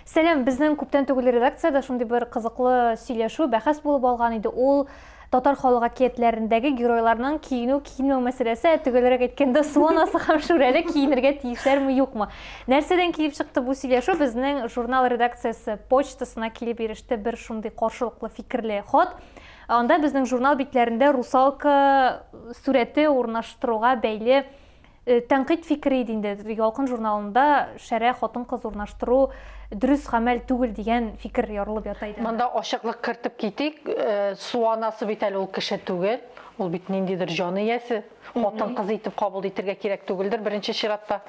Сәлем, безнең күптән түгел редакциядә шундый бер кызыклы сөйләшү, бәхәс булып алган иде. Ул татар халык әкиятләрендәге геройларның киенү киенмәү мәсьәләсе, төгәлрәк әйткәндә, суанасы һәм шүрәле киенергә тиешләрме юкмы? Нәрсәдән килеп чыкты бу сөйләшү? Безнең журнал редакциясе почтасына килеп иреште бер шундый каршылыклы фикерле хат. Анда безнең журнал битләрендә русалка сүрәте урнаштыруга бәйле Э, тәнкыйть фикере иде инде ялкын журналында шәрә хатын кыз урнаштыру дөрес гамәл түгел дигән фикер ярылып ята иде монда ачыклык кертеп китик э, су анасы бит әле ул кеше түгел ул бит ниндидер җан иясе хатын кыз итеп кабул итергә кирәк түгелдер беренче чиратта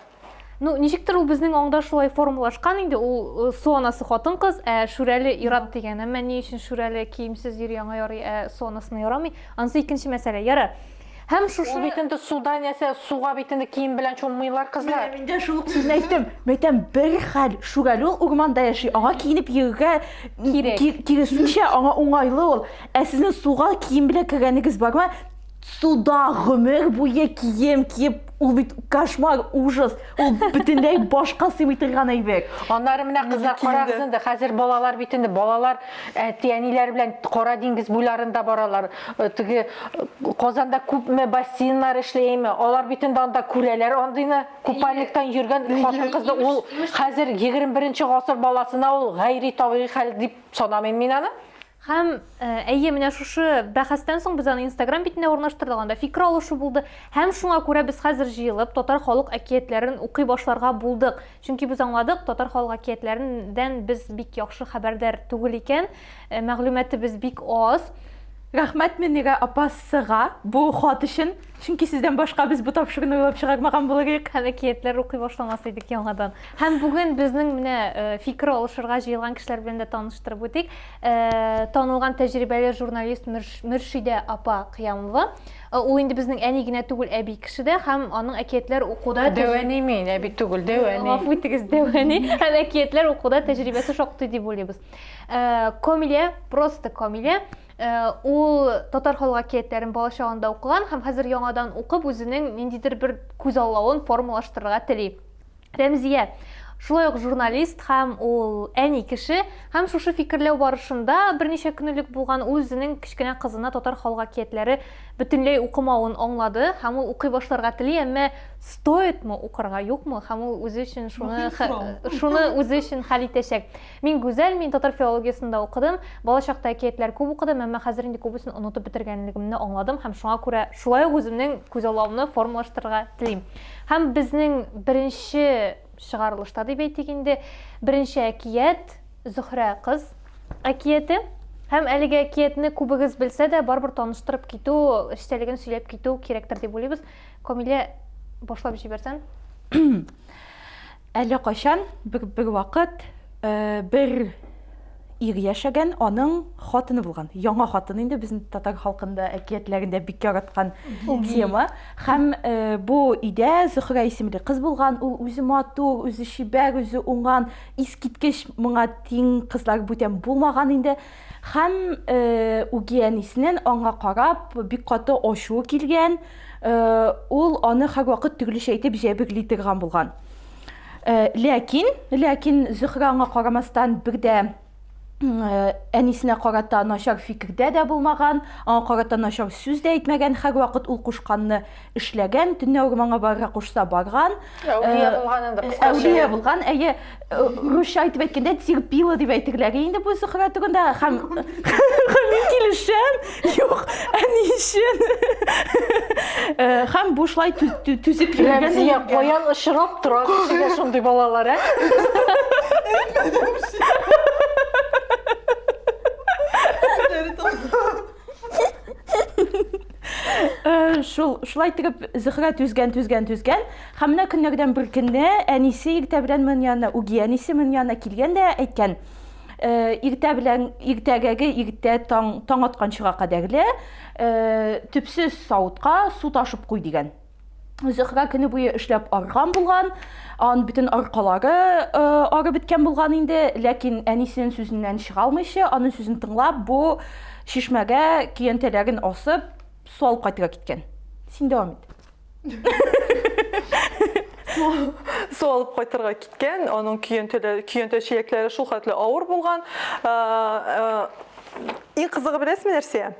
ну ничектер ул безнең аңда шулай формалашкан инде ул э, су анасы хатын кыз ә шүрәле ират дигән әмма ни өчен шүрәле киемсез йөри аңа ярый ә су анасына ярамый анысы икенче мәсьәлә ярар Һәм шушы... Ул бит инде суда нәрсә, суга бит инде кием белән чуммыйлар кызлар. Менә мин дә шул ук сүзне әйттем. Мәйтәм, бер хәл, шүрәле ул урманда яши, аңа киенеп йөрергә кирәк. Киресенчә, аңа уңайлы ул. Ә сезнең суга кием белән кергәнегез бармы? Суда гомер буе кием киеп Ул бит кошмар, ужас. Ул бөтенләй башка сыймый торган әйбек. Аннары менә кызлар карагыз инде, хәзер балалар бит инде, балалар әти-әниләр белән Кара диңгез буйларында баралар. Э, теге э, Казанда күпме бассейннар эшләйме? Алар бит инде анда күрәләр андыйны. Купальниктан йөргән хатын-кызны ул хәзер 21 нче гасыр баласына ул гайри табигый хәл дип санамыйм мин аны. Һәм, әйе, менә шушы бәхәстән соң без аны Инстаграм битенә урнаштырдык, анда фикер алышу булды. Һәм шуңа күрә без хәзер җыелып, татар халык әкиятләрен укый башларга булдык. Чөнки без аңладык, татар халык әкиятләреннән без бик яхшы хәбәрдар түгел икән, мәгълүматыбыз бик аз. Рәхмәт Мөнирә апа сыга бу хат өчен. Чөнки сездән башка без бу тапшыруны уйлап чыгармаган булыр идек. Һәм әкиятләр укый башламас идек яңадан. Һәм бүген безнең менә э, фикер алышырга җыелган кешеләр белән дә таныштырып үтик. Э, танылган тәҗрибәле журналист Мөршидә апа Кыямова. Э, ул инде безнең әни генә түгел, әби кеше дә һәм аның әкиятләр укуда Дәвәни мин, әби түгел, дәвәни. Гафу итегез, дәвәни. Һәм әкиятләр укуда тәҗрибәсе шактый дип уйлыйбыз. Комилә, просто Комилә. Э, ул татар халык әкиятләрен бала чагында укыган һәм хәзер яңадан укып үзенең ниндидер бер күзаллавын формалаштырырга тели рәмзия шулай ук журналист һәм ул әни кеше һәм шушы фикерләү барышында берничә көн элек булган ул үзенең кечкенә кызына татар халык әкиятләре бөтенләй укымавын аңлады һәм ул укый башларга тели әмма стоит мы укырга юкмы һәм ул үзе өчен шуны шуны үзе өчен хәл итәчәк Мин гүзәл, мин татар филологиясен дә укыдым. Балачакта әкиятләр күп укыдым, әмма хәзер инде күбесен онытып бетергәнлегемне аңладым һәм шуңа күрә шулай ук үземнең күзаллавымны формалаштырырга телим. Һәм безнең беренче чыгарылышта дип әйтик инде, беренче әкият, Зөһрә кыз әкияте. Һәм әлеге әкиятне күбегез белсә дә, барыбер таныштырып китү, эчтәлеген сөйләп китү кирәктер дип уйлыйбыз. Камилә, башлап җибәрсәң. Әллә кайчан, бервакыт, бер ир яшәгән, аның хатыны булган. Яңа хатыны инде безнең татар халкында, әкиятләрендә бик яраткан тема. Һәм бу өйдә Зөхрә исемле кыз булган, ул үзе матур, үзе чибәр, үзе уңган, искиткеч, моңа тиң кызлар бүтән булмаган инде. Һәм үгиәниснен аңа карап бик каты ачуы килгән, ул аны һәрвакыт төрлечә итеп җәберли торган булган. Ләкин, ләкин Зөһрә аңа карамастан бер дә әнисенә карата начар фикердә дә булмаган, аңа карата начар сүз дә әйтмәгән, һәрвакыт ул кушканны эшләгән, төнләүгә моңа барырга кушса барган. Әүлия булган инде кыскача. Әүлия булган, әйе, русча итеп әйткәндә терпила дип әйтерләр инде бу Зөһрә турында һәм мин килешәм. Юк, әни өчен. Һәм бу шулай түзеп йөргән. Рәмзия каян очрап тора кешегә шундый балалар, ә? Э, шул шулай итеп зөһрә түзгән түзгән түзгән һәм менә көннәрдән бер көнне әнисе иртә белән моның янына үги әнисе моның янына килгән дә әйткән э, иртә белән иртәгәге иртә таң таң атканчыга кадәрле э, төпсез савытка су ташып куй дигән Зөһрә көне буе эшләп арган булган, ан бөтен аркалары э, арып беткән булган инде, ләкин әнисенең сүзеннән чыга алмыйча, аның сүзен тыңлап, бу чишмәгә киянтәләрен асып, су алып кайтырга киткән. Син дәвам ит. Су алып кайтырга киткән, аның көянтәләре, көянтә чиләкләре шул хәтле авыр булган. Э, э, Иң кызыгы беләсезме нәрсә?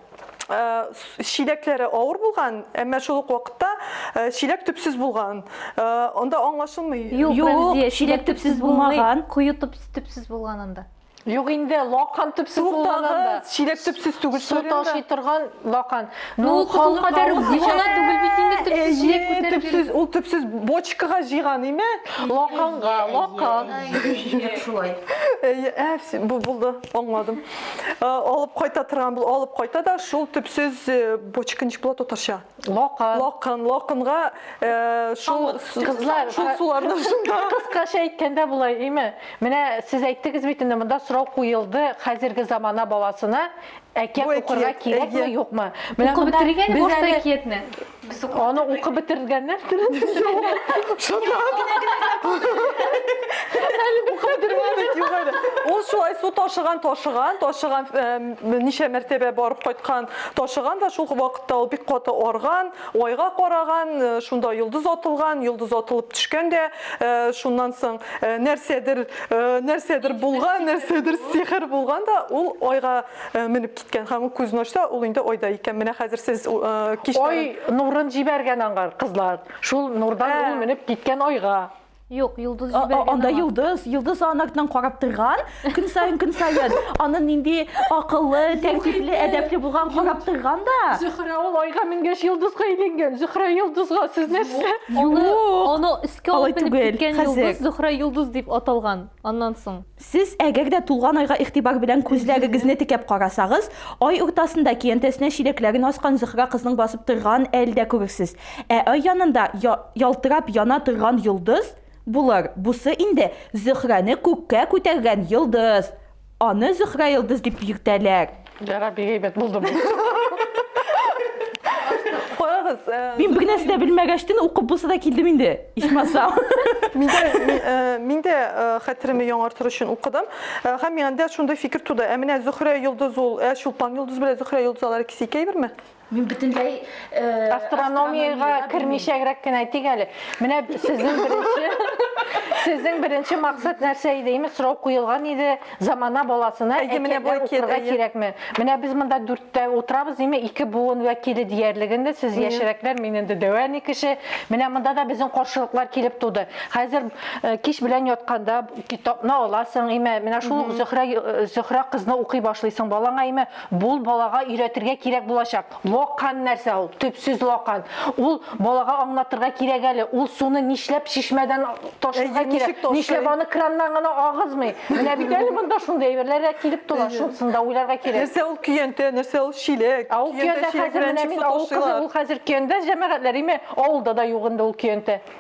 Э, чиләкләре авыр булган, әмма шул ук вакытта э, чиләк төпсез булган. Э, анда аңлашылмый. Юк, чиләк төпсез булмаган, куе төпсез булган анда. Юк инде, лакан төпсез булган анда. Чиләк төпсез түгел. Су ташый торган лакан. Ну, халык кадәр җыйгана түгел бит инде төпсез чиләк күтәреп. Төпсез, ул төпсез бочкага җыйган име? Лаканга, лакан. Шулай. Ә, бу булды. Аңладым. Э, алып кайта торган бул, алып кайта да шул төпсез э, бочка ничек була татарча? Лакан. Лакан, лаканга э, шул кызлар шул суларны шунда. Кыскача әйткәндә булай, име? Менә сез әйттегез бит инде монда сорау куелды, хәзерге замана баласына әкият укырга кирәкме, юкмы? Менә монда без әкиятне Без укып Аны бетердек. укып бетергәннәр. Ул шулай су ташыган, ташыган, ташыган, э, ничә мәртәбә барып кайткан, ташыган да шул вакытта ул бик каты арган, айга караган, э, шунда йолдыз атылган, йолдыз атылып төшкән дә, э, шуннан соң э, нәрсәдер, э, нәрсәдер булган, нәрсәдер сихер булган да ул айга Менеп киткән һәм күзен ачса, ул инде айда икән. Менә хәзер сез кичләрен... Ай нурын җибәргән аңар, кызлар. Шул нурдан ул менеп киткән айга. Юк, йолдыз җибәргән аңа. Анда йолдыз, йолдыз анардан карап торган. Көн саен, көн саен аны нинди акыллы, тәртипле, әдәпле булган карап торган да. Зөһрә ул айга менгәч йолдызга әйләнгән. Зөһрә йолдызга сез нәрсә? Юк. Аны өскә алып менеп киткән йолдыз Зөһрә йолдыз дип аталган аннан соң. Сез әгәр дә тулган айга игътибар белән күзләрегезне текәп карасагыз, ай уртасында көянтәсенә чиләкләрен аскан Зөһрә кызның басып торган әл дә күрерсез. Ә ай янында я ялтырап яна торган йолдыз булыр. Бусы инде Зөһрәне күккә күтәргән йолдыз. Аны Зөһрә йолдыз дип йөртәләр. Ярар, бик әйбәт булды бу. Карагыз, э, Мин бер нәрсә дә белмәгәчтен укып булса да килдем инде. Ичмасам. Мин дә ми- э, мин дә э, хәтеремне яңартыр өчен укыдым. Э, Һәм миңа дә шундый фикер туды. Ә менә Зөһрә йолдыз ул, ә Чулпан йолдыз белән Зөһрә йолдыз алар икесе икәйберме? Мин бөтенләй э, астрономиягә кермичәгрәк кенә әйтик әле. Менә сезнең беренче сезнең беренче максат нәрсә иде? Имеш сорау куелган иде замана баласына Әйе, менә бу әкият, кирәкме? Менә без монда дүрттә утырабыз, диме, ике буын вәкиле диярлек инде. Сез яшьрәкләр, мин инде дәвәни кеше. Менә монда да безнең каршылыклар килеп туды. Хәзер э, кич белән ятканда китапны аласың, име, менә шул Зөһрә э, Зөһрә кызны укый башлыйсың балаңа, име, Бул балага өйрәтергә кирәк булачак. Локан нәрсә ул? Төпсез локан. Ул балага аңлатырга кирәк әле. Ул суны нишләп чишмәдән ташырга кирәк? Нишләп аны краннан гына агызмый? Менә бит әле монда шундый әйберләр дә килеп тора. Шунысын да уйларга кирәк. Нәрсә ул көянтә, нәрсә ул чиләк? Ул көянтә хәзер менә мин авыл кызы, ул хәзер көянтә җәмәгатьләр име? Авылда да юк инде ул көянтә.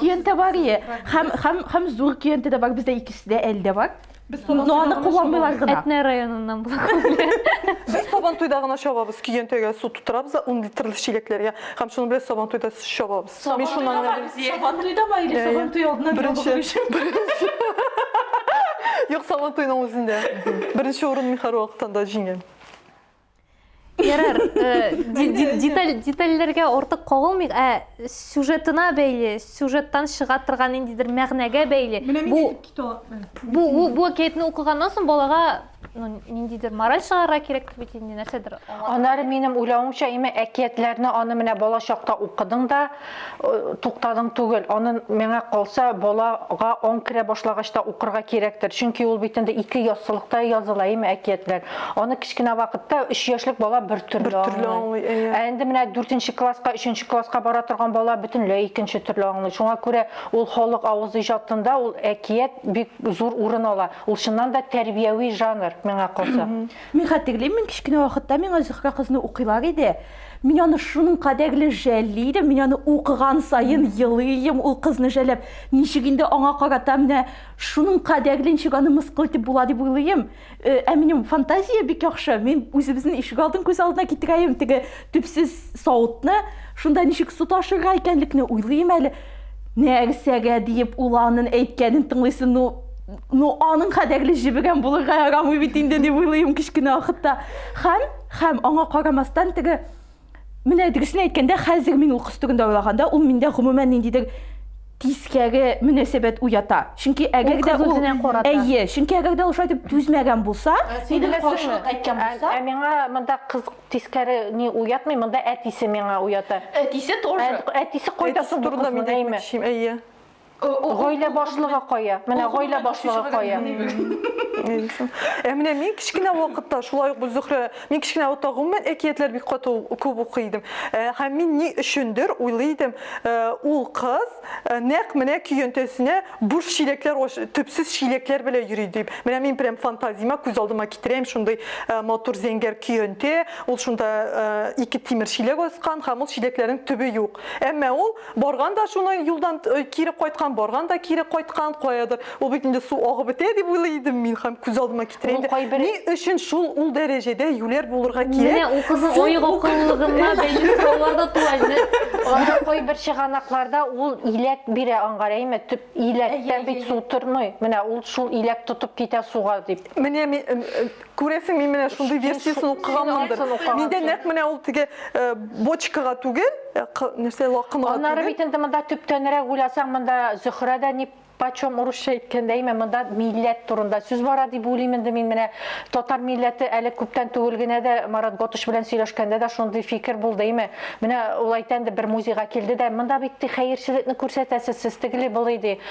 Киенте бар е. Хәм хәм хәм зур киенте дә бар, бездә икесе дә әлдә бар. Без сабан Но аны туйдагына кулланмыйлар чабабыз. гына. Әтнә районыннан була күпле. Без сабан туйда гына чабабыз, киентегә су тутырабыз да 10 литрлы чиләкләргә һәм шуны белән сабан туйда чабабыз. Мин шуннан гына беләм. Сабан туйдамы или Иә, сабан иә. туй алдыннан Беренче. ябыгу өчен? Юк, сабан туйның үзендә. Беренче урын Михаил Валыктан да җиңә. Ярар, э, деталь детальләргә артык кагылмыйк, ә сюжетына бәйле, сюжеттан чыга торган ниндидер мәгънәгә бәйле. Бу бу бу бу әкиятне укыганнан соң балага ну, ниндидер мораль чыгарырга кирәк бит инде нәрсәдер. Аннары минем уйлавымча, имә әкиятләрне аны менә балачакта укыдың да, туктадың түгел. Аны миңа калса, балага аң керә башлагач та укырга кирәктер. Чөнки ул бит инде ике яссылыкта языла, әйме, әкиятләр. Аны кечкенә вакытта 3 яшьлек бала бер төрле аңлый. Ә инде менә 4 класска, 3 класска бара торган бала бөтенләй икенче төрле аңлый. Шуңа күрә ул халык авыз иҗатында ул әкият бик зур урын ала. Ул чыннан да тәрбияви жанр, миңа калса. Мин хәтерлим, мин кечкенә вакытта миңа Зөһрә кызны укыйлар иде. Мин аны шуның кадәрле жәлли идем, мин аны укыган саен елыйм ул кызны жәлләп. Ничек инде аңа карата менә шуның кадәрле ничек аны мыскыл итеп була дип уйлыйм. Ә минем фантазия бик яхшы. Мин үзебезнең ишек алдын күз алдына китерәем, теге төпсез савытны, шунда ничек су ташырга икәнлекне уйлыйм әле. Нәрсәгә диеп ул анын әйткәнен тыңлыйсың, ну, ну аның кадәрле җебегән булырга ярамый бит инде дип уйлыйм кечкенә вакытта. Хәм. Һәм аңа карамастан, теге, менә дөресен әйткәндә, хәзер мин ул кыз турында уйлаганда, ул миндә гомумән ниндидер тискәре мөнәсәбәт уята. Чөнки әгәр дә ул, әйе, чөнки әгәр дә ул шулай дип түзмәгән булса, нидер каршылык әйткән булса. Ә миңа монда кыз тискәре ни уятмый, монда әтисе миңа уята. Әтисе тоже. Әтисе кайда соң бу кызның, әйеме? Әтисе турында мин дә әйтмәкче, әйе. Гаилә башлыгы кая? Менә гаилә башлыгы кая? Ә менә мин кечкенә вакытта шулай ук Гөлзөхрә, мин кечкенә вакытта гомумән әкиятләр бик каты күп укый идем. Һәм мин ни өчендер уйлый идем, ул кыз нәкъ менә көянтәсенә буш чиләкләр, төпсез чиләкләр белән йөри дип. Менә мин прям фантазиямә күз алдыма китерәм шундый матур зәңгәр көянтә, ул шунда ике тимер чиләк аскан һәм ул чиләкләрнең төбе юк. Әмма ул Барган да шуны юлдан кире кайткан, барган да кире кайткан, каядыр. Ул бит инде су агып бетә дип уйлый идем мин һәм күз алдыма китерә инде. Ни өчен шул ул дәрәҗәдә юләр булырга кирәк? Менә ул кызның оек акыллылыгына бәйле сораулар да туа инде. Анда кайбер чыганакларда ул иләк бирә аңгар, әйме? Төп иләктә бит су тормый. Менә ул шул иләк тотып китә суга дип. Менә Күрәсең, мин менә шундый версиясын укыганмындыр. Миндә нәкъ менә ул теге э, бочкага түгел, э, нәрсә лакымга түгел. Аннары бит инде монда төптәнрәк уйласаң, монда Зөһрә дә ни почем урысча әйткәндә әйме монда милләт турында сүз бара дип уйлыйм инде мин менә татар милләте әле күптән түгел генә дә марат готыш белән сөйләшкәндә дә шундый фикер булды әйме менә ул әйтә инде бер музейга килде дә монда бит ди хәерчелекне күрсәтәсез сез тегеле былый ди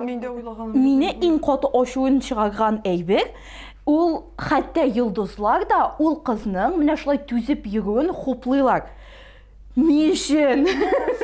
Мин дә уйлаган. Мине иң каты ачуын чыгарган әйбер, ул хәтта йолдызлар да ул кызның менә шулай түзеп йөрүен хуплыйлар. Ни өчен?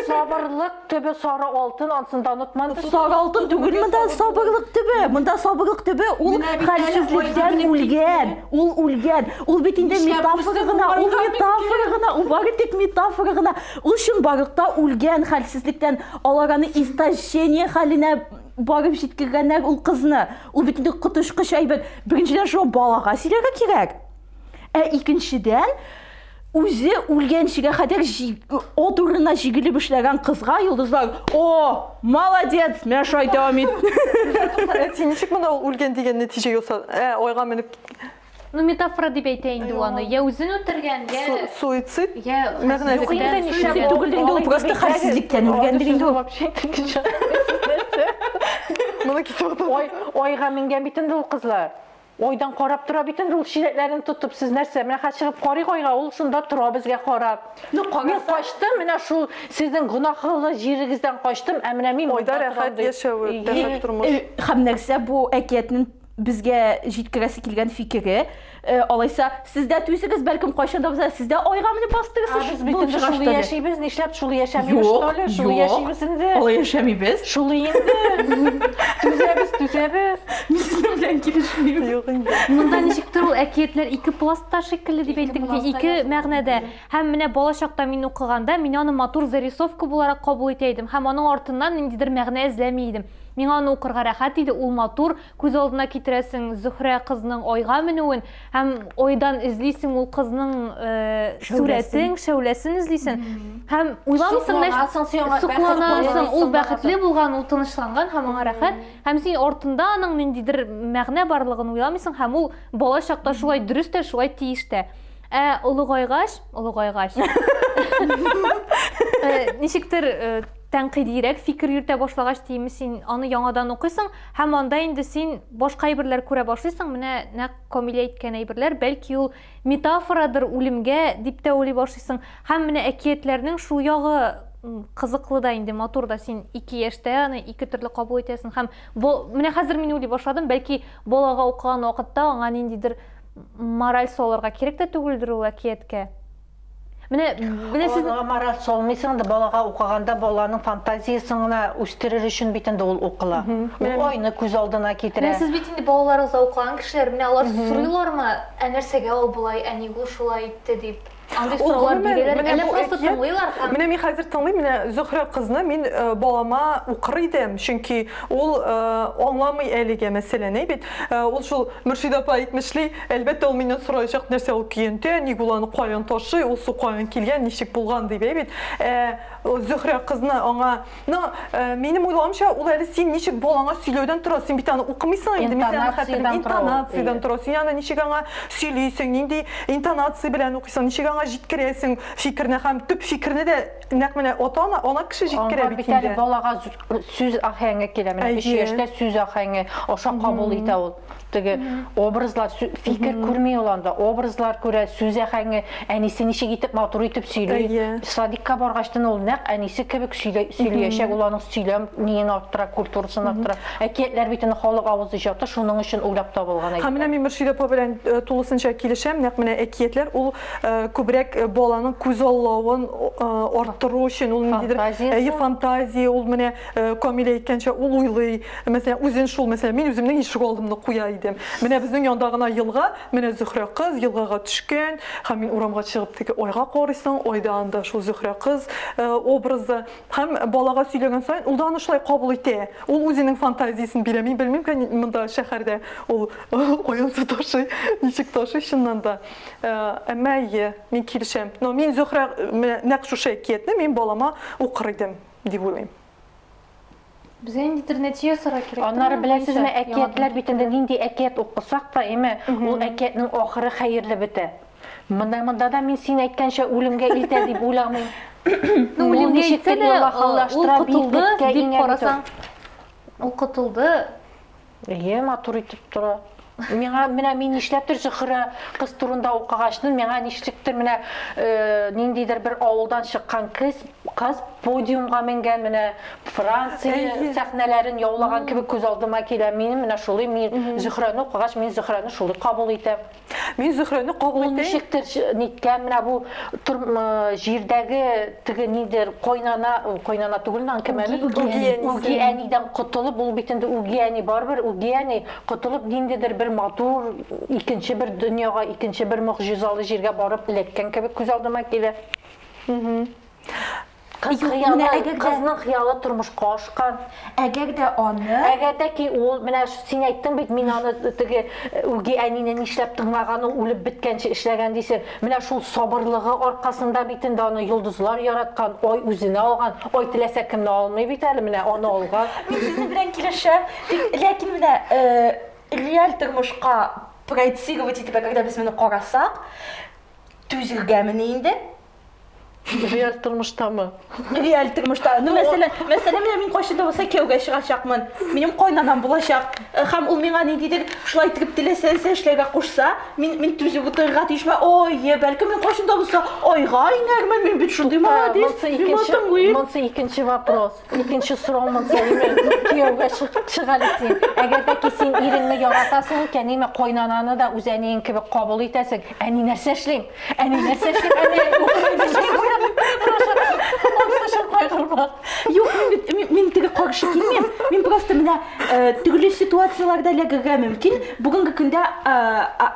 Сабырлык төбе сары алтын, ансын да онытман. Сары алтын түгел монда сабырлык төбе. Монда сабырлык төбе ул хәлсезлектән үлгән. Ул үлгән. Ул бит инде метафора гына, ул метафора гына, ул бары тик метафора гына. Ул чынбарлыкта үлгән хәлсезлектән. Алар аны истощение хәленә барып җиткергәннәр ул кызны. Ул бит инде коточкыч әйбер. Беренчедән шуны балага сөйләргә кирәк. Ә икенчедән, үзе үлгәнчегә кадәр от урынына җигелеп эшләгән кызга йолдызлар, "О, молодец, менә шулай дәвам ит". Син ничек монда ул үлгән дигән нәтиҗә ясадың? Ә, айга менеп киткән. Ну, метафора дип әйтә инде ул аны. Я үзен үтергән, я... Суицид? Я... Юк инде, нишләп түгел инде, ул просто хәлсезлектән үлгән дип инде ул. Вообще икенче. Моны кисеп атасың. Ой, ойга менгән бит инде ул кызлар. Ойдан карап тора бит инде ул чиләкләрен тотып. Сез нәрсә? Менә хәзер чыгып карыйк ойга, ул шунда тора безгә карап. Ну, мин качтым, менә шул сезнең гөнаһлы җирегездән качтым, ә менә мин ойда рәхәт яшәве, рәхәт тормыш. Һәм нәрсә бу әкиятнең безгә җиткерәсе килгән фикере, э, алайса сез дә түзегез, бәлкем кайчан да булса сез дә айга менеп бастыгыз. Ә без бит инде шулай яшибез, нишләп шулай яшәмибез, что ли? Шулай яшибез инде. Алай яшәмибез. Шулай инде. Түзәбез, түзәбез. Мин сезнең белән килешмим. Юк инде. Монда ничектер ул әкиятләр ике пластта шикелле дип әйттек, ике мәгънәдә. Һәм менә балачакта мин укыганда, мин аны матур зарисовка буларак кабул итә идем һәм аның артыннан ниндидер мәгънә эзләми идем. Миңа аны укырга рәхәт иде, ул матур, күз алдына китерәсең Зөһрә кызның айга менүен һәм айдан эзлисең ул кызның сурәтен, шәүләсен эзлисен һәм уйламыйсың, сокланасың, сокланасың, ул бәхетле булган, ул тынычланган һәм аңа рәхәт, һәм син артында аның ниндидер мәгънә барлыгын уйламыйсың һәм ул бала чакта шулай дөрес тә, шулай тиеш тә. Ә олыгайгач, олыгайгач, ничектер Тәнкыйдирәк фикер йөртә башлагач, диеме, син аны яңадан укыйсың һәм анда инде син башка әйберләр күрә башлыйсың, менә нәкъ Камилә әйткән әйберләр, бәлки ул метафорадыр үлемгә, дип тә уйлый башлыйсың. Һәм менә әкиятләрнең шул ягы кызыклы да инде, матур да, син ике яшьтә аны ике төрле кабул итәсең һәм бо, менә хәзер мин уйлый башладым, бәлки балага укыган вакытта аңа ниндидер мораль салырга кирәк тә түгелдер ул әкияткә. Менә менә сез Аларга мораль салмыйсың да, балага укыганда баланың фантазиясен генә үстерер өчен бит инде ул укыла. Ул айны күз алдына китерә. Менә сез бит инде балаларыгызга укыган кешеләр, менә алар сорыйлармы, ә нәрсәгә ул болай, ә ник ул шулай итте дип? Андый сораулар бирәләр, әллә просто тыңлыйлар һәм Менә мин хәзер тыңлыйм, менә Зөһрә кызны мин балама укыр идем, чөнки ул аңламый әлегә мәсьәләне бит. Ул шул Мөршидә апа әйтмешли, Әлбәттә, ул миннән сораячак, нәрсә ул көянтә, ник ул аны каян ташый, ул су каян килгән, ничек булган дип, әй бит. Ә Зөһрә кызны аңа, но минем уйлавымча, ул әле син ничек балаңа сөйләүдән тора, син бит аны укымыйсың инде, мин аны хәтерлим, интонациядән тора. Син аны ничек аңа сөйлисең, нинди интонация белән укыйсың, ничек аңа җиткерәсең фикерне һәм төп фикерне дә нәкъ менә ата-ана, ана кеше җиткерә бит инде. Аңа бит әле балага сүз ахәңе килә, менә 3 яшьтә сүз ахәңе, аша кабул итә ул. теге образлар фикер күрми ул анда образлар күрә сүз әхәңе әнисе ничек итеп матур итеп сөйли садикка баргачтан ул нәкъ әнисе кебек сөйлиячәк ул аның сөйләм ниен арттыра культурасын арттыра әкиятләр бит инде халык авыз иҗаты шуның өчен уйлап табылган һәм менә мин мөршидә апа белән э, тулысынча килешәм нәкъ менә әкиятләр ул э, күбрәк э, баланың күзаллавын арттыру өчен ул ниндидер фантазия ул менә Э, Камилә әйткәнчә, ул уйлый, мәсәлән, үзен шул, мәсәлән, мин үземнең ишек алдымны куя идем. Менә безнең янда гына елга, менә Зөхрә кыз елгага төшкән, һәм мин урамга чыгып теге айга карыйсың, айда анда шул Зөхрә кыз э, образы. Һәм балага сөйләгән саен ул да аны шулай кабул итә. Ул үзенең фантазиясен бирә. Мин белмим, кән монда шәһәрдә ул каян су ташый, ничек ташый чыннан да. Э, әмма әйе, мин килешәм. Но мин Зөхрә нәкъ шушы әкиятне мин балама укыр идем. дип уйлыйм. Безгә ниндидер нәтиҗә ясарга кирәк. Аннары беләсезме, әкиятләр бит инде нинди әкият укысак та, әйме, ул әкиятнең ахыры хәерле бетә. Менә монда да мин син әйткәнчә үлемгә илтә дип уйламыйм. Ну, үлемгә илтсә дә, ул котылды дип карасаң, ул котылды. Әйе, матур итеп тора. Миңа менә мин нишләптер Зөхрә кыз турында укыгачны, миңа нишлектер менә э, ниндидер бер авылдан чыккан кыз, кыз подиумга менгән менә Франция сәхнәләрен яулаган кебек күз алдыма килә. Минем менә шулай мин Зөхрәне укыгач, мин Зөхрәне шулай кабул итәм. Мин Зөхрәне кабул итәм. Ул ничектер ниткән менә бу җирдәге теге нидер койнана, койнана түгел нан кем әле? Үги әнидән котылып, ул бит инде үги әни барыбер, үги әни котылып ниндидер бер матур икенче бер дөньяга, икенче бер могҗизалы җиргә барып эләккән кебек күз алдыма килә. Кыз Юк, менә хыялы, әгәр дә- кызның хыялы тормышка ашкан. Әгәр дә аны Әгәр дә ки ул, менә ш- син әйттең бит, мин аны теге э, үги әнине нишләп тыңлаган ул, үлеп беткәнче эшләгән дисең. Менә шул сабырлыгы аркасында бит инде аны йолдызлар яраткан, ай үзенә алган. Ай теләсә кемне алмый бит әле, менә аны алган. Мин сезнең белән килешәм. Тик, ләкин менә э, реаль тормышка проецировать итеп, әгәр дә без моны карасак, түзергәмени инде? Реаль тормыштамы? Реаль тормышта. Ну, мәсәлән, мәсәлән, менә мин кайчан да булса кияүгә чыгачакмын. Минем кайнанам булачак. Э, Һәм ул миңа ниндидер шулай итеп теләсә нәрсә эшләргә кушса, мин мин түзеп утырырга тиешме? Ой, е, бәлкем мин кайчан да булса айга инәрмен, мин бит шундый Ә, молодец, Монсы мин икенче, матымлыйм. монсы икенче вопрос. Икенче сорау монда ниме? Кияүгә чык әле син. Әгәр дә ки син иреңне яратасың икән, ниме кайнананы да үз әниең кебек кабул итәсең. Әни нәрсә эшлим? Әни нәрсә эшлим? Әни Юк, мин бит мин теге каршы килмим. Мин просто менә э, төрле ситуацияләрдә эләгергә мөмкин. Бүгенге көндә э,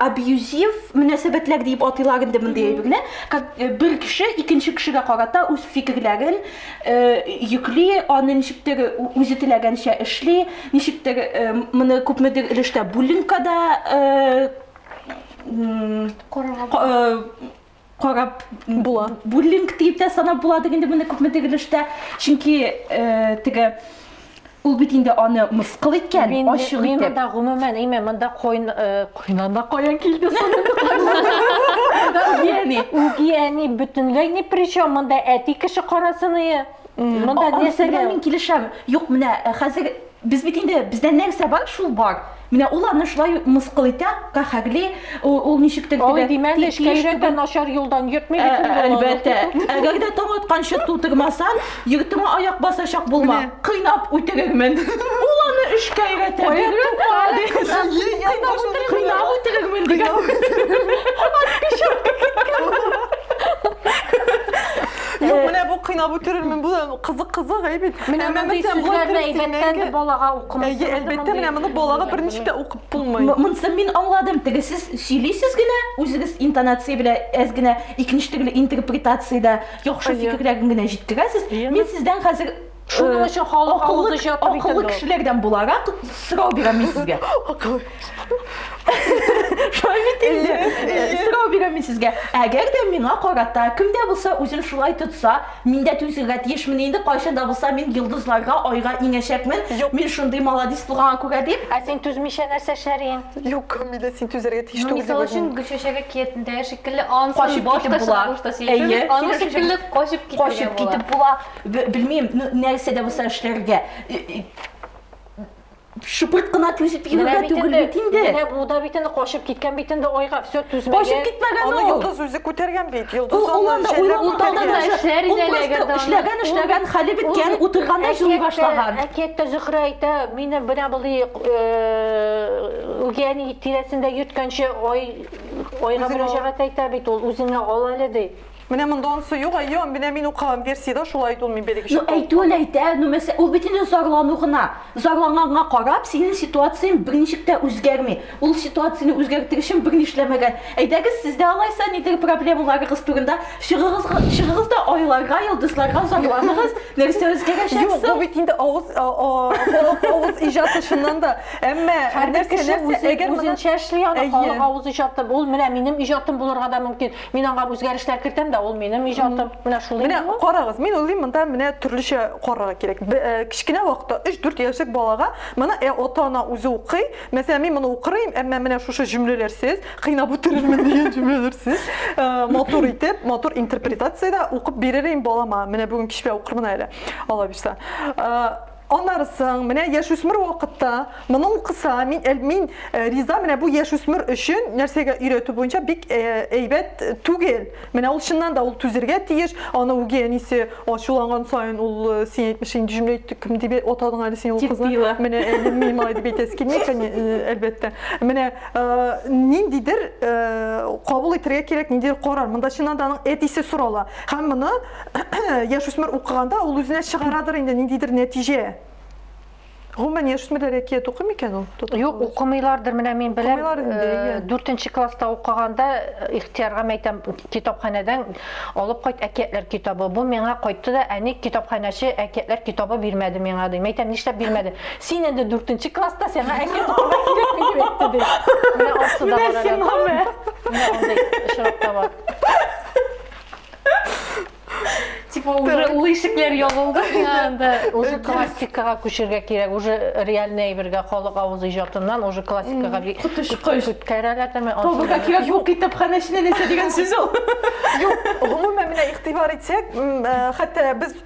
абьюзив мөнәсәбәтләр дип атыйлар инде мондый әйберне. Э, бер кеше икенче кешегә карата үз фикерләрен йөкли, аны ничектер үзе теләгәнчә эшли, ничектер моны күпмедер өлештә буллингкада карап була. Буллинг дип тә санап буладыр инде моны күпмедер өлештә, чөнки теге Ул бит инде аны мыскыл иткән, Мин, ачык мин итеп. монда гомумән, әйме, монда койн, э, койнанда каян килде соны? Үгияни. Үгияни бөтенләй ни при чем, монда әти кеше карасыные. Монда Анысы нәрсәгә? белән мин килешәм. Юк, менә э, хәзер без бит инде бездә нәрсә бар, шул бар. Менә ул аны шулай мыскыл итә, каһәрли, ул ничек тел Алай димәде, эшкәйрәк тә начар юлдан йөртми ә, бит. Ә, әлбәттә. Әгәр дә таң атканчы тутырмасан, йортыңа аяк басачак булма. Кыйнап үтерермен. Ул аны эшкә өйрәтә. Кыйнап үтерермен дигән. Юк, менә бу кыйнап үтерермен, бу кызык-кызык әйбәт. Менә мондый сүзләрне әйбәттән балага Әйе, әлбәттә, менә моны балага берничек тә укып булмый. Монсын мин аңладым. Теге сез сөйлисез генә, үзегез интонация белән әз генә икенче төрле интерпретациядә яхшы фикерләрен генә җиткерәсез. Мин сездән хәзер Шуның өчен халык авызы җыяп бит инде. Акыллы кешеләрдән буларак сорау бирәм мин сезгә. Акыллы. Шулай бит инде. Сорау бирәм мин сезгә. Әгәр дә миңа карата кемдә булса үзен шулай тотса, Мин дә түзергә тиешмен инде, кайчан да булса мин йолдызларга, айга иңәчәкмен. Юк. Мин шундый маладис булганга күрә дип. Ә син түзмичә нәрсә эшләрен? Юк, Камилә, син түзәргә тиеш ну, түгел. Мисал өчен Гөлчәчәге киятендә шикелле ансын башка чыгарышта сөйләшү. Аны шикелле качып китәргә була. Качып китеп була. Белмим, нәрсә дә булса эшләргә. Шыпырт кына түзеп йөрергә түгел бит инде. Менә бу да бит инде качып киткән бит инде айга, все түзмәгән. Качып киткән ул. Аны йолдыз үзе күтәргән бит. Йолдыз аны җәйләп күтәргән. Эшләр иде әгәр дә. Эшләгән, эшләгән, хәле беткән, утырганда җылый башлаган. Әкияттә Зөһрә әйтә, мине менә болай үгәни тирәсендә йөрткәнче ай айга мөрәҗәгать әйтә бит ул, үзеңә ал әле ди. Менә монда онсы юк, әйе, менә мин укыган версиядә шулай итүен мин бәлеге чакта. Ну әйтүен әйтә, ну мәсә, ул бит инде зарлану гына. Зарланганга карап, синең ситуацияң берничек тә үзгәрми. Ул ситуацияне үзгәртер өчен берни эшләмәгән. Әйдәгез, сез дә алайса нидер проблемаларыгыз турында чыгыгыз, чыгыгыз да айларга, йолдызларга зарланыгыз, нәрсә үзгәрәчәк соң? Юк, бу бит инде авыз, халык авыз иҗаты чыннан да. Әмма һәрбер кеше үзенчә эшли аны, халык авыз иҗаты. Ул менә минем иҗатым булырга да мөмкин. Мин аңа үзгәрешләр кертәм дә, ул минем иҗатым. Менә шул инде. Менә карагыз, мин уйлыйм, монда менә төрлечә карарга кирәк. Э, кечкенә вакытта 3-4 яшьлек балага моны ә ата-ана үзе укый. Мәсәлән, мин моны укырым, әмма менә шушы җөмләләрсез, кыйнап үтерермен дигән җөмләләрсез, э, матур итеп, матур интерпретациядә укып биререм балама. Менә бүген кичпә укырмын әле, алла бирсә. Э, Анарысың, менә яшүсмер вакытта моны укыса, мин әл- мин э, риза, менә бу яшүсмер өчен нәрсәгә өйрәтү буенча бик э, әйбәт түгел. Менә ул чыннан да ул түзергә тиеш. Аны үги әнисе ачуланган саен ул э, син әйтмешең инде җөмлә әйтте, кем дип атадың әле син ул Тип кызны? тыела. Менә э, мин малай дип әйтәсе килми, кәне- э, әлбәттә. Менә э, ниндидер э, кабул итәргә кирәк, ниндидер карар. Монда чыннан да аның әтисе сорала. Һәм моны яшүсмер укыганда ул үзенә чыгарадыр инде ниндидер нәтиҗә. Гомумән яшүсмерләр әкият укый микән ул? Юк, укымыйлардыр. Менә мин беләм, 4 э, класста укыганда э, ихтиярга мәйтәм китапханәдән алып кайт әкиятләр китабы. Бу миңа кайтты да, әни китапханәче әкиятләр китабы бирмәде миңа ди. Мәйтәм, нишләп бирмәде? Син инде 4 класста сиңа әкият укырга кирәкми дип әйтте ди. Менә асы да бар. Менә син, мама. Менә андый очрак та бар. Типа уже ул ишекләр ябылды миңа анда. Уже классикага күчергә кирәк. Уже реальный әйбергә халык авыз иҗатыннан уже классикага бик коточкыч. Күткәрәләр дәме. Табырга кирәк юк китапханә эченә нәрсә дигән сүз ул. Юк, гомумән менә игътибар итсәк, хәтта без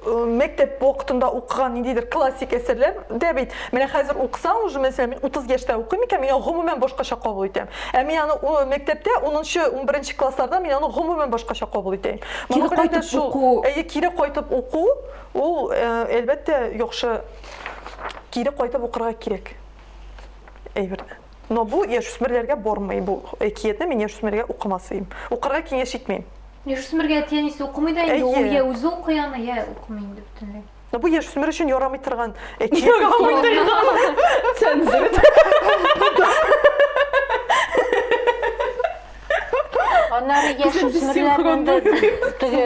мәктәп вакытында укыган ниндидер классик әсәрләр дә бит. Менә хәзер укысаң, уже мәсәлән, мин 30 яшьтә укыйм икән, мин аны гомумән башкача кабул итәм. Ә мин аны мәктәптә 10-нчы, 11-нче классларда мин аны гомумән башкача кабул итәм. Кире кайтып уку. Әйе, кире кайтып уку, ул, әлбәттә, яхшы кире кайтып укырга кирәк әйберне. Но бу яшүсмерләргә бормый, бу әкиятне мин яшүсмергә укымасыйм. Укырга киңәш итмим. Яшүсмергә әти-әнисе укымый да инде, ул йә үзе укый аны, йә укымый инде бөтенләй. Но бу яшүсмер өчен ярамый торган әкият. Ярамый торган. Цензурит. Аннары яшүсмерләрнең дә теге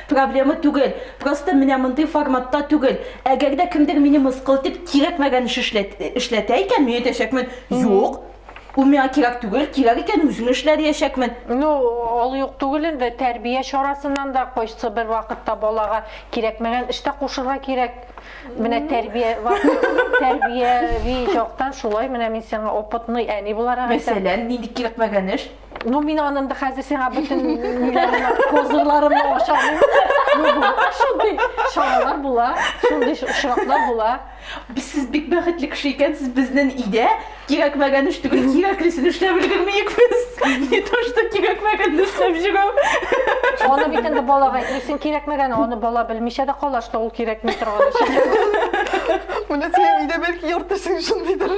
Проблема түгел, просто менә мондый форматта түгел. Әгәр дә кемдер мине мыскыл итеп кирәкмәгән эш эшләт, эшләтә икән, мин әйтәчәкмен, юк, ул миңа кирәк түгел, кирәк икән үзем эшлә диячәкмен. Ну, ул юк түгел инде, тәрбия чарасыннан да кайсы бер вакытта балага кирәкмәгән эш тә кушырга кирәк. Менә тәрбия, тәрбияви яктан шулай, менә мин сиңа опытный әни буларак әйтәм. Мәсәлән, нинди кирәкмәгән эш? Ну, мин анын да хәзер сиңа бүтін ниләрне, козырларымны ашамын. Ну, бу, шундый чаралар була, шундый очраклар була. Без сез бик бәхетле кеше икәнсез, безнен идә кирәкмәгән эш түгел, кирәклесен эшләп өлгермиек без. Не то, что кирәкмәгән эшләп җөрү. Аны бит инде балага әйтмисең кирәкмәгән, аны бала белмичә дә кала, что ул кирәкми торган эш. Менә синең идә бәлки яртысын шундыйдыр.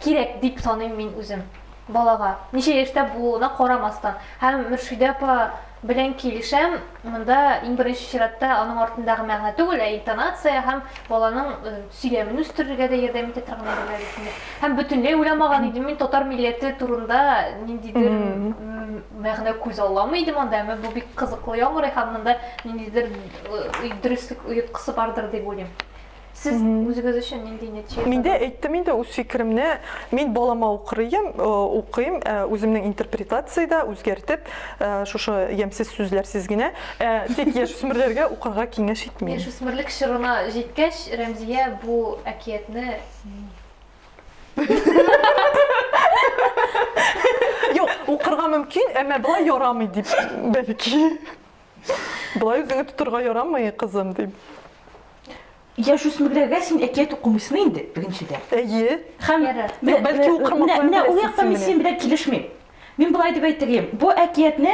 Кирәк дип саныйм мин үзем. Балага, ничә яшьтә булуына карамастан. Һәм Мөршидә апа белән килешәм, монда иң беренче чиратта аның артындагы мәгънә түгел, ә интонация һәм баланың сөйләмен үстерергә дә ярдәм итә торган әйберләр дип саныйм. Һәм бөтенләй уйламаган идем мин татар милләте турында ниндидер мәгънә күз аламы идем анда, әмма бу бик кызыклы яңгырый һәм монда ниндидер дөреслек оеткысы бардыр дип уйлыйм. Сез үзегез өчен нинди нәтиҗә ясадыгыз? Миндә әйттем инде үз фикеремне. Мин балама укырыйм, э, укыйм, э, үземнең интерпретациядә үзгәртеп, э, шушы ямьсез сүзләрсез генә, тик яшүсмерләргә укырга киңәш итмим. Яшүсмерлек чорына җиткәч, Рәмзия бу әкиятне Юк, укырга мөмкин, әмма болай ярамый дип, бәлки. Болай үзеңне тотырга ярамый, кызым, дим. Яшүсмерләргә син әкият укымыйсың инде, беренчедән. Әйе. Һәм бәлки ул кырмыслар белән ул якта мин синең белән килешмим. Мин болай дип әйтергә, бу әкиятне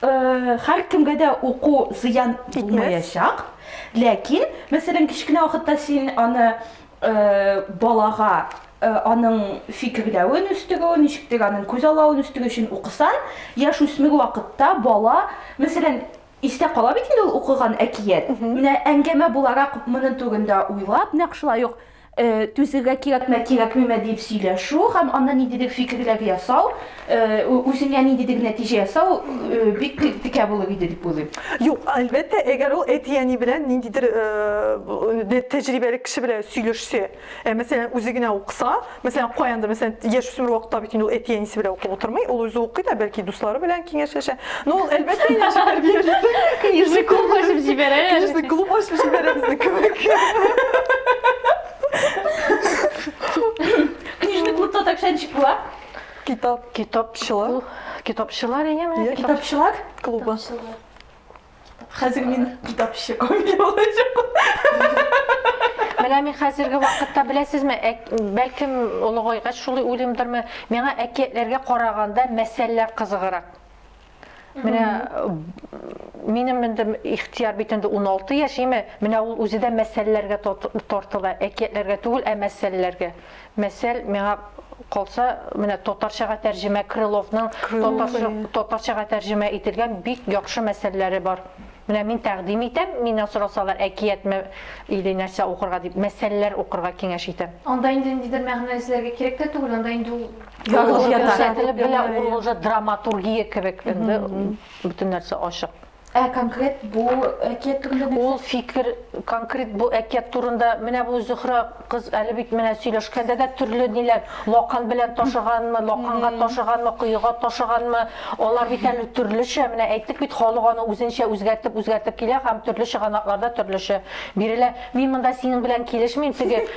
һәркемгә дә уку зыян булмаячак. Ләкин, мәсәлән, кечкенә вакытта син аны балага аның фикерләвен үстерү, ничектер аның күз аллавын үстерү өчен укыса, яшь үсмер вакытта бала, мәсәлән, истә кала бит инде ул укыган әкият. Менә әңгәмә буларак моның турында уйлап, нәкъ шулай ук түзергә кирәкме, кирәкмиме дип сөйләшү һәм аннан ниндидер фикерләр ясау, үзеңә ниндидер нәтиҗә ясау бик текә булыр иде дип уйлыйм. Юк, әлбәттә, әгәр ул әти-әни белән ниндидер тәҗрибәле кеше белән сөйләшсә, Ә мәсәлән, үзе генә укыса, мәсәлән, каяндыр, мәсәлән, яшь үсмер вакытта бит инде ул әти-әнисе белән укып утырмый, ул үзе укый да, бәлки дуслары белән киңәшләшә. Но ул әлбәттә инде җибәргә йөрде. Книжный клуб ачып җибәрә. Книжный клуб ачып җибәрә безне кебек. Книжный клубта так шәнчик була. Китап, китапчылар. Китапчылар дигән. Китапчылар клубы. Хәзер мин китапчы комедия булачак. Менә мин хәзерге вакытта беләсезме, бәлкем олыгайгач шулай уйлыймдырмы, миңа әкиятләргә караганда мәсәлләр кызыгырак. Менә минем инде ихтияр бит инде 16 яшь, име? Менә ул үзе дә мәсьәләләргә тартыла, әкиятләргә түгел, ә мәсьәләләргә. Мәсәл, миңа калса, менә татарчага тәрҗемә Крыловның татарчага тәрҗемә ителгән бик яхшы мәсәлләре бар. Менә мин тәкъдим итәм, миннән сорасалар, әкиятме или нәрсә укырга дип, мәсәлләр укырга киңәш итәм. Анда инде ниндидер мәгънә эзләргә кирәк тә түгел, анда инде ул язылып ята. Ул уже драматургия кебек, инде бөтен нәрсә ачык. Ә конкрет бу әкият турында нәрсә? Ул фикер конкрет бу әкият турында, менә бу Зөһрә кыз әле бит менә сөйләшкәндә дә төрле ниләр, лакан белән ташыганмы, лаканга ташыганмы, коега ташыганмы, алар бит әле төрлечә, менә әйттек бит, халык аны үзенчә үзгәртеп-үзгәртеп килә һәм төрле чыганакларда төрлечә бирелә. Мин монда синең белән килешмим, теге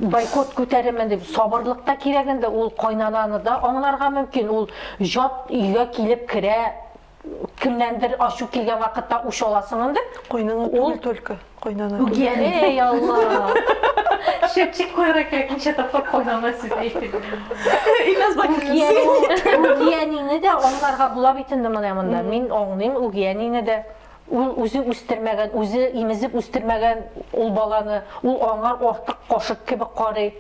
бойкот күтәремен дип, сабырлык та кирәк инде, ул кайнананы да аңларга мөмкин, ул җат өйгә килеп керә, кемнәндер ачу килгән вакытта үч аласың инде. Куйныңа түгел только, куйнана. Эй, Алла. Шепчик куйра кирәк, ничә тапкыр куйнана сүз әйтеп. Илназ Бакин. Үгиәнине дә аңларга була бит инде менә монда. Мин аңлыйм үгиәнине дә. Ул үзе үстермәгән, үзе имезеп үстермәгән ул баланы, ул аңар артык кашык кебек карый.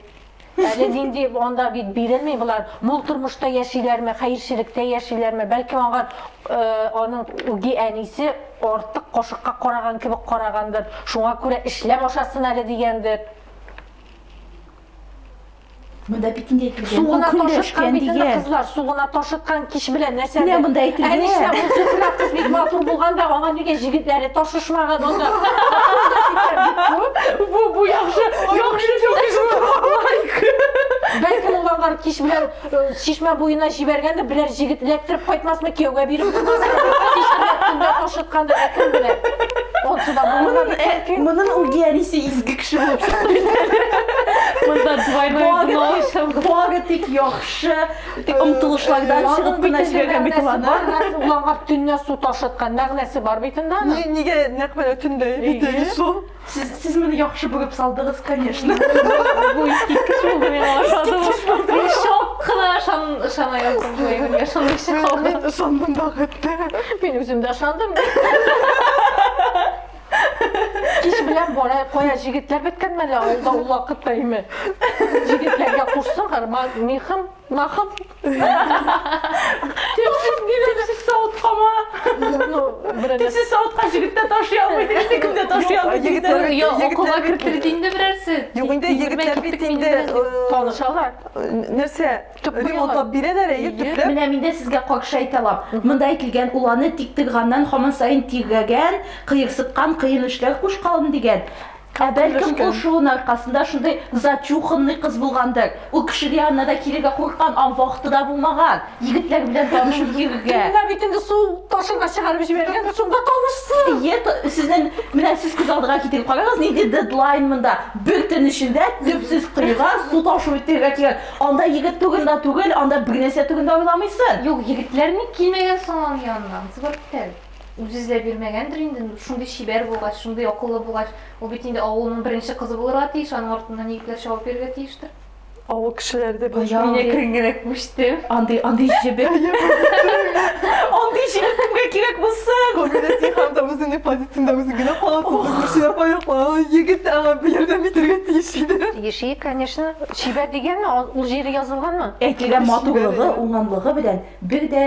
Әле нинди, анда бит бирелми болар. Мул тормышта яшиләрме, хәерчелектә яшиләрме, бәлки аңа аның үги әнисе артык кашыкка караган кебек карагандыр, шуңа күрә эшләп ашасын әле дигәндер. Монда бит инде әйтелгән. Сугына ташыткан бит инде кызлар, сугына ташыткан кич белән нәрсә. Менә монда әйтелгән. Ә нишлә бу сугына кыз бик матур булган да, аңа нигә җегетләре ташышмаган анда? Бу бу яхшы. Яхшы Бәлкем ул алар кич белән чишмә буена җибәргән дә берәр җегет эләктереп кайтмасмы кияүгә биреп ашыткан да кем белә. Онсы да булмаган. Моның угиарисе изге кеше булып Монда двойной дно ишем. Бога тик яхшы, тик омтылышлардан чыгып кына җибәргә бит ул аны. Уларга төнлә су ташыткан мәгънәсе бар бит инде. Нигә нәкъ менә төнлә? Шул. Сез, сез моны яхшы бөгеп салдыгыз, конечно. Бу искиткеч булды миңа ошады. Мин шок кына ышан ышана яздым бу әйбергә ышанмыйча калдым. Мин ышандым да хәтта. Мин үзем дә ышандым. Кич белән бара, кая җегетләр беткән мәле авылда ул вакытта име. Җегетләргә кушсын, гарман, михым, махым. Тешсез генә тешсез савыткама. Ну, берәр Тешсез савытка җегеттә ташый алмый дигән кемдә ташый алмый дигән. Егетләр- Йо, егетләр окуга бит- кертелде инде берәрсе. Юк инде егетләр бит инде э, танышалар. нәрсә? Төп куялар. Ремонтлап бирәләр әйе Әйе. төпләп. Менә мин дә сезгә какшы әйтә алам. Монда әйтелгән уланы тик тыйганнан һаман саен тигәгән, кыерсыткан, кыен эшләр кушкалым дигән. Ә бәлкем ул шуын аркасында шундый зачуханный кыз булгандыр. Ул кешегә янына да килергә курыккан, ан вакыты да булмаган. Егетләр белән танышып йөрергә. Менә бит инде су ташырга чыгарып җибәргән, шунда танышсын. Е, сезнең, менә сез күз алдыга китереп карагыз, нинди дедлайн монда. Бер төн эчендә төпсез коега су ташып үтергә кирәк. Анда егет турында түгел, анда бернәрсә турында уйламыйсың. Юк, егетләр ник килмәгән соң аның янына? Зыбыр тел. Үзе эзләп йөрмәгәндер инде, шундый чибәр булгач, шундый акыллы булгач, ул бит инде авылның беренче кызы булырга тиеш, аның артыннан егетләр чабып йөрергә тиештер. Авыл кешеләре дә беләш. Мин әкрен генә күчтем. Андый, андый җебе. Андый җебе кемгә кирәк булсын? Кабилә син хәмдә үзеңнең позицияңдә үзең генә каласың. Күченә паяклана, егет аңа ярдәм итәргә тиеш иде. Тиеши, конечно. Чибәр дигәнме, ул җире язылганмы? Әйтелгән матурлыгы, уңганлыгы белән бер дә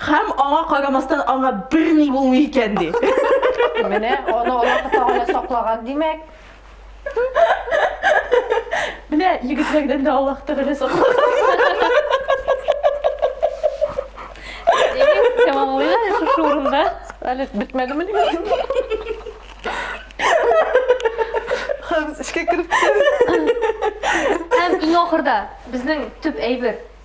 Хәм аңа карамастан аңа бер ни булмый икән ди. Менә аны Аллаһ Тәгалә саклаган димәк. Менә егетләрдән дә Аллаһ Тәгалә саклаган. Тәмамлыйбыз шушы урында. Әле бетмәдеме ни? Хәм эчкә кереп. Һәм иң ахырда безнең төп әйбер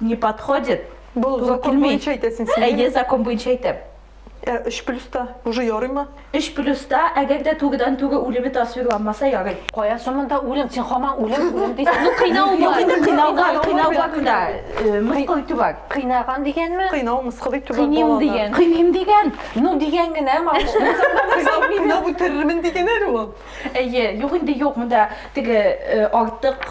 не подходит. Бу закон буенча әйтәсең син. Әйе, закон буенча әйтәм. Ә 3 плюста уже ярыймы? 3 плюста, әгәр дә тугыдан тугы үлеме тасвирланмаса ярый. Кая шымында үлем, син хаман үлем, үлем дисең. Ну кыйнау бар. Юк, кыйнауга, кыйнауга гына э, мыскыл итү бар. Кыйнаган дигәнме? Кыйнау мыскыл итү бар. Кыйныйм дигән. Кыйныйм дигән. Ну дигән генә, малыш. Кыйнау үтерермен дигән әле ул. Әйе, юк инде юк, монда теге э, артык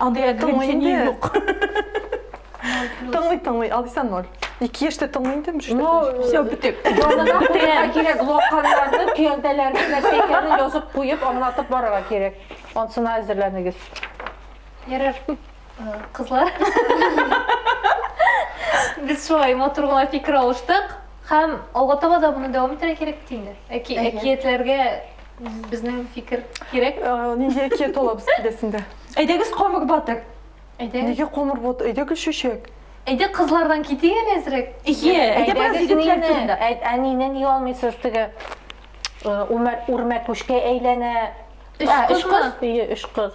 Андый әкренче ни юк. Тыңлый, тыңлый, Алиса ноль. Ике яшьтә тыңлый инде, мөш. Ну, все, битек. Янына куярга кирәк, локанларны, көянтәләрне, нәрсәләрне язып куеп, аңлатып барырга кирәк. Ансына әзерләнегез. Ярар, кызлар. Без шулай матур гына фикер алыштык. Һәм алга таба да моны дәвам итәргә кирәк бит инде. Әки, әкиятләргә Безнең фикер кирәк. Нинди әкият ала без киләсендә? Әйдәгез комыр батыр. Әйдә. Нигә комыр батыр? Әйдәгез чәчәк. Әйдә кызлардан китик әле әзрәк. Ие, әйдә бераз егетләр турында. Әнине ни алмыйсыз теге үрмә күшкә әйләнә. Өч кыз. Өч кыз.